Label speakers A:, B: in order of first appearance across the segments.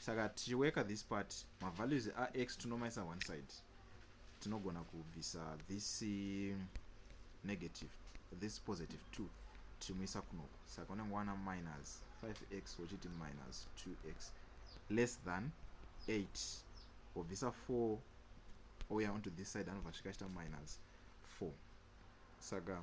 A: saka tichiworka this part mavalues ax tinomaisa one side tinogona kubvisa this um, negative this positive 2 tichimuisa kunoko saka unenge wana minus 5x wochiti minus 2x less than 8 wobvisa 4 ouya onto this side anobva svika achita minus 4 saka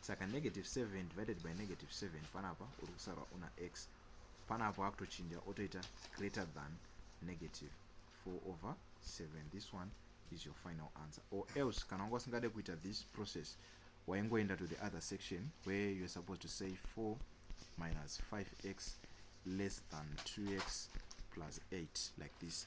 A: saka negative 7 divided by negative 7 panapa uri kusarwa una x panapa akutochinja otoita greater than negative 4 over 7 this one is your final answer or else kana wanga usingade kuita this process waingoenda to the other section where youare supposed to say 4 minus 5x less than 2x plus 8 like this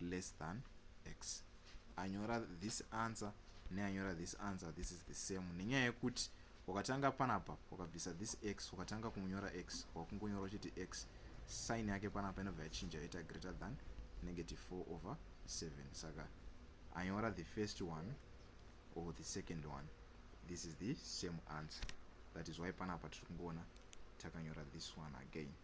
A: less than x anyora this answer neanyora this answer this is the same nenyaya yekuti wakatanga panapa wakabvisa this x wakatanga kunyora x wakungonyora uchiti x sign yake panapa inobva yachinja yaita greater than negative 4 over 7 saka anyora the first one or the second one this is the same answer that is why panapa tiri kungoona takanyora this one again